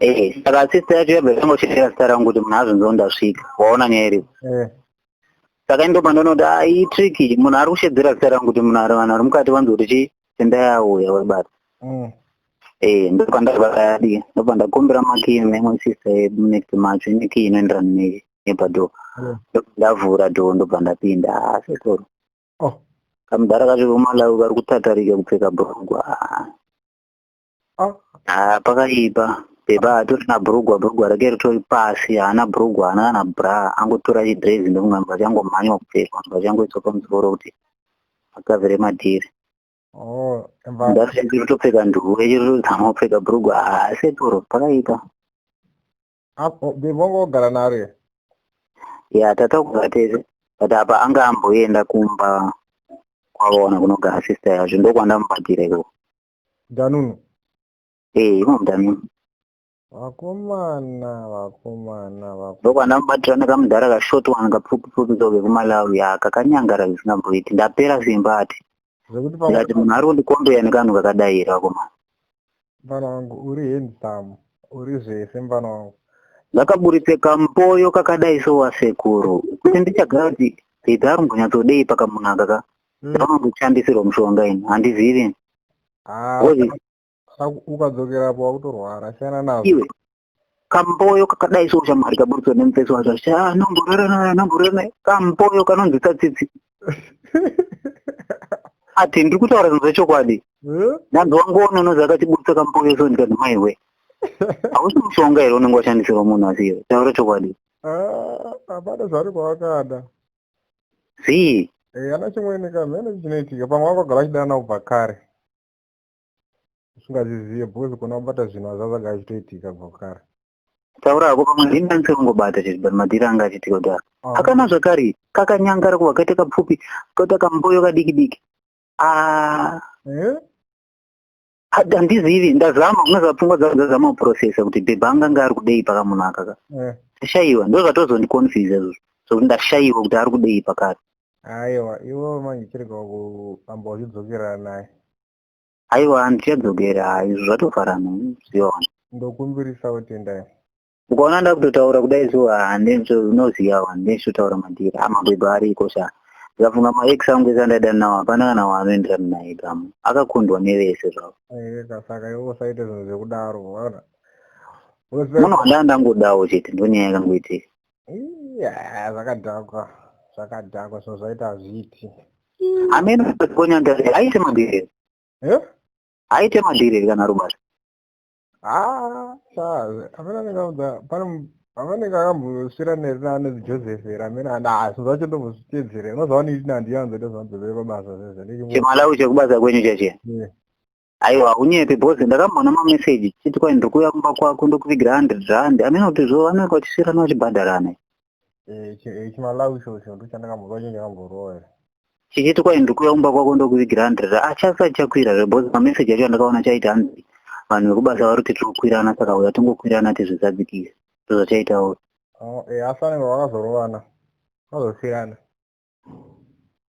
Eh, saka sister yacho yabva yangochera zita rangu kuti munhu azonzoo ndasvika waona nyaya iripo eh. saka ini ndopandonoti a ah, iyi triki munhu ari kushedzera zita rangu kuti munhu ari vanhu ari mukati vanzi kuti chii tendai auya webata mm. ee eh, ndopandavayadi ndopandakumbira makii memwe sister yedu next macho ine kii inoenderana ne nepadoo mm. ndopandavhura doo ndobva ndapinda haa ah, sekuru oh. kamudhara kacho vemalawi vari kutatarika kupfeka bhurugwa haa ah. Ah, pakaipa bhebha atori na brugwa brugwa rake ritori pasi haana brugwa haana kana bra angotora chidrezi ndokunga mva changomhanywa kupfekwa mva changoiswa pamusoro kuti akavere madhiri oh, ndachiri topfeka nduwe chiri tozama kupfeka brugwa hasetoro pakaipa bhebha wanga wagara naro here ya tataugara tese but apa anga amboenda kumba kwavaona kunogara sister yazvo ndokwandamubatira ikoko Danunu. Eh, imo Danunu. Vakomana, vakomana, vakomana. Ndokwana mubatira nekamudhara ka short one kapfupi pfupi zoke kuMalawi ya kakanyangara zvisina kuita. Ndapera zvimba ati. Zvekuti pa Ndati munhu ari kundikombeya nekanhu kakadai here vakomana. Mfana wangu uri handsome, uri zvese mfana wangu. Ndakaburitse kampoyo kakadai so wasekuru. Kuti ndichagara kuti Peter ari kumbonyatsodei pakamunhu aka ka. Hmm. Ndinokushandisirwa mushonga ini, handizivi ini. Ah, ukadzokera apo wakutorwara, siyana nazvo. Iwe, kamboyo kakadai so shamwari kaburitswa nemufesi wacho, shaa, nomborera naye, nomborera naye, kamboyo kanonzi tsatsitsi. Ati, ndiri kutaura zvinhu zvechokwadi. Hmm? Ndanzi wangoona unozi akatiburitsa kamboyo so ndikati maiwe. Hausi mushonga here unenge washandisirwa munhu asi iwe, taura chokwadi. Ah, hapana zvari kwawakada. zii eh, ana chimwene ka mhene chinoitika pamwe vakagara vachidana kubva kare usingazizive because kona kubata zvinhu azvazaga achitoitika kubva kare taura hako pamwe ndini ndani sekungobata chete but madhiri anga achiitika kudaro ah. akana zvakare kakanyangara kuva kaita kapfupi koita kamboyo kadiki diki ah. eh? handizivi ndazama unoziva pfungwa dzangu dzazama kuprocesa kuti bhebha anga anga ari kudei paka munhu akaka eh. ndashaiwa ndo zvatozondiconfuse izvo sokuti ndashaiwa kuti ari kudei pakati aiwa iwe manje chirega kuamba uchidzokerera naye aiwa handichadzokera izvo zvatofarana ziona ndokumbirisawo tendai ukaona ndakutotaura kudai so handinoziva wani ndinechitotaura madhiri amabhebha ariko sha ndikafunga maex angu ese andaida nawo hapana kana waanoenderana naye gamu akakundwa nevese zvavo saka iwe usaite zvinhu zvekudaro vaona muno handaa ndangodawo chete ndonyaya yakangoitika zvakadhakwa zvakadhakwa zvinhu zvaita hazviiti amene akonya ndare aite madhiriri aite madhiriri kana rubasa pavanenge akambosvira nerinani joseph here amene anaa zvinhu zvacho ndombozvitedzere unozoona iti nandiyo anzoita zvanzovere pabasa zvezvechimalawi chekubasa kwenyu chache aiwa unyepe because ndakamboona mameseji chiti kwai ndiri kuuya kumba kwako ndokuvigira hundred rand amene kuti zvo vanenge vachisvirana vachibhadharana Eh, eh, chimalawi ichocho ndochandakamboziva chinhu chakamborowa here chichiti kwai ndikuya kumba kwako ndokuvigira handred achasati ah, chakwira zve bcause mameseji acho andakaona chaiti hanzi vanhu vekubasa vari kuti tikukwirana saka uya tingokwirana tizvizadzikise ndozvachaitawo oh, eh, asi anenge vakazorovana vazosiyana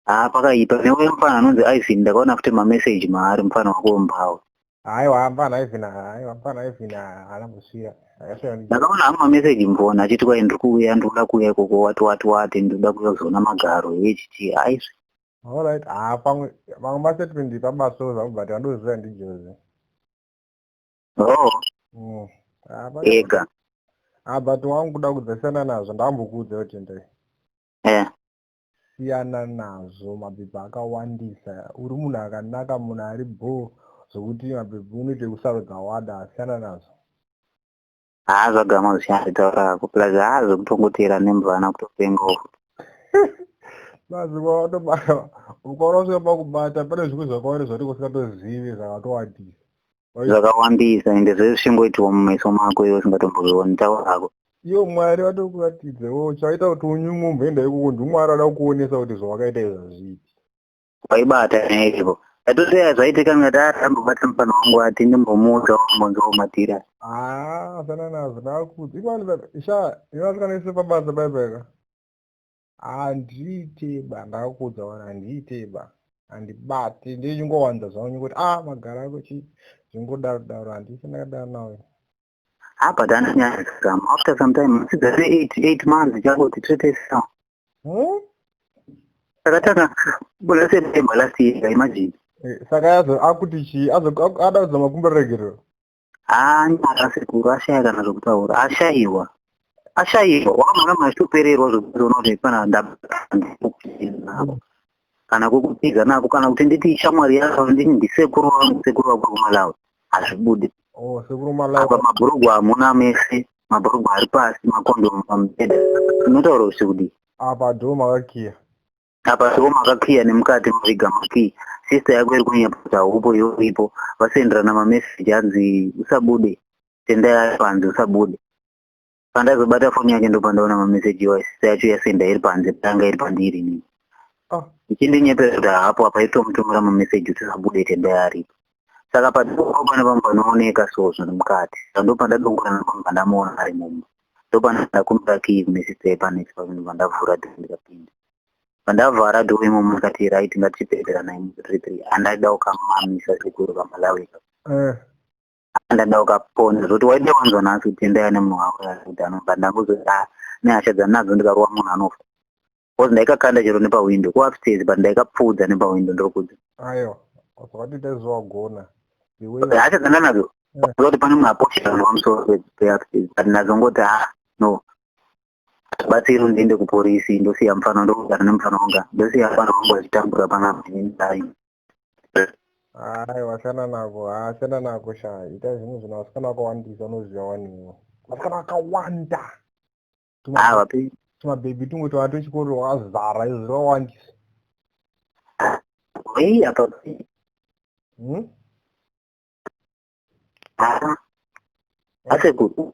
haa pakaipa neuye mfana anonzi ivin ndakaona futi mameseji maari mfana wako mbawa aiwa mfana ivin aiwa mfana ivin haana kusvira ndakaona hama meseji mvona achiti kwai ndiri kuuya ndikuda kuuya ikoko wati wati wati ndikuda kuuya kuzoona magaro hechiti aizvi alright haa pamwe pamwe masetment pabaso zvakubati vandoziva ndijozi oh mm. ega ah but wangu kuda kudzasiyana nazvo ndambokuudza kuti ndei yeah. siyana nazvo mapepa akawandisa uri munhu akanaka munhu ari bho zvokuti mapepa unoita kusarudza wada siyana nazvo haa zvagama zvisiyana zvitaura ako plus haa zvekutongotera nemvana kutopenga uku mazuva atobaa ukaona usvika pakubata pane zvimwe zvakawari zvatiko singatozivi zvakatowandisa zvakawandisa ende zvese zvichingoitirwa mumeso mako iwe usingatombozvioni taura hako iyo mwari vatiri kuratidza iwe uchaita kuti unyumwe umboenda ikoko ndimwari ada kukuonesa kuti zvawakaita izvi hazviiti waibata neiko atoteya zvaitika ngati atambobata mufana wangu ati ndimbomuudza wambonzi womatira haa asana nazvo nakuti ikwanisa sha ivasikana ise pabasa baibaika handiiteba ndakakuudza wani handiiteba handibate ndiye chingowanza zvangu nyingoti a ah, magara ako chii zvingodaro daro handisi ndakadaro nawe apa dandinyazam after some time masidza se eight eight months chakoti tretesa hmm? takatanga bula september last year imagine eh, saka yazo akuti chii ada kuzama kumboregerero haanyara sekuru ashaya kana zvekutaura ashaiwa ashaiwa wakamhaka machitopererwa zvekuona kuti pana ndaapo kana kukupedza nako kana kuti nditi ishamwari yako nditi ndisekuru vangu sekuru vako kumalawi hazvibudi oh, apa mabhurugwa hamuna mese mabhurugwa ari pasi makondomu pamubhedha unotaura kuti kudii apa dhoo makakiya apa soo makakhiya nemukati maviga makii sister yako iri kunyepota hupo iwe uripo vasenderana mameseji hanzi usabude tendai ari panze usabude pandazobata foni yake ndopandaona mameseji iwayo sister yacho yasenda iri panze payanga iri pandiri nini Ah. ichindinyeperera kuti hapo apa itomutumira mameseji kuti usabude tendai aripo saka padoko pane vamwe vanooneka so zviri mukati saka ndopandadongora ndobva ndamuona ari mumba ndopana ndakumbira kii kune sister yepaneti pakundibva ndavhura dhoo ndikapinda pandavhara dhoo imomo ndikati right ngatipedzera naye muthree three andaida ukamamisa sekuru kamalawika eh. andaida ukapona zvoti waida wanzwa nhasi kuti endaya nemunhu wako kuti anobva ndangozoti nehasha dzandinadzo ndikarowa munhu anofa because ndaikakanda chero nepawindow kuupstairs but ndaikapfuudza nepawindow ndokuti ayo wakati taiziva wagona hasha dzanga nadzo eh. kuti pane munhu aposha vanhu vamusoro peupstairs but nazongoti ha ah, no batsiri ndiende kuporisi ndosiya mufana ndokugara nemufana wanga ndosiya mufana wangu achitambura panapa ndai hayi washana nako hashana nako sha ita zvinhu zvino vasikana vakawandisa unoziva waniwo vasikana vakawanda tumabhebhi tumwe twava twechikoro twakazara izvo zvawandisa hmm? asekuru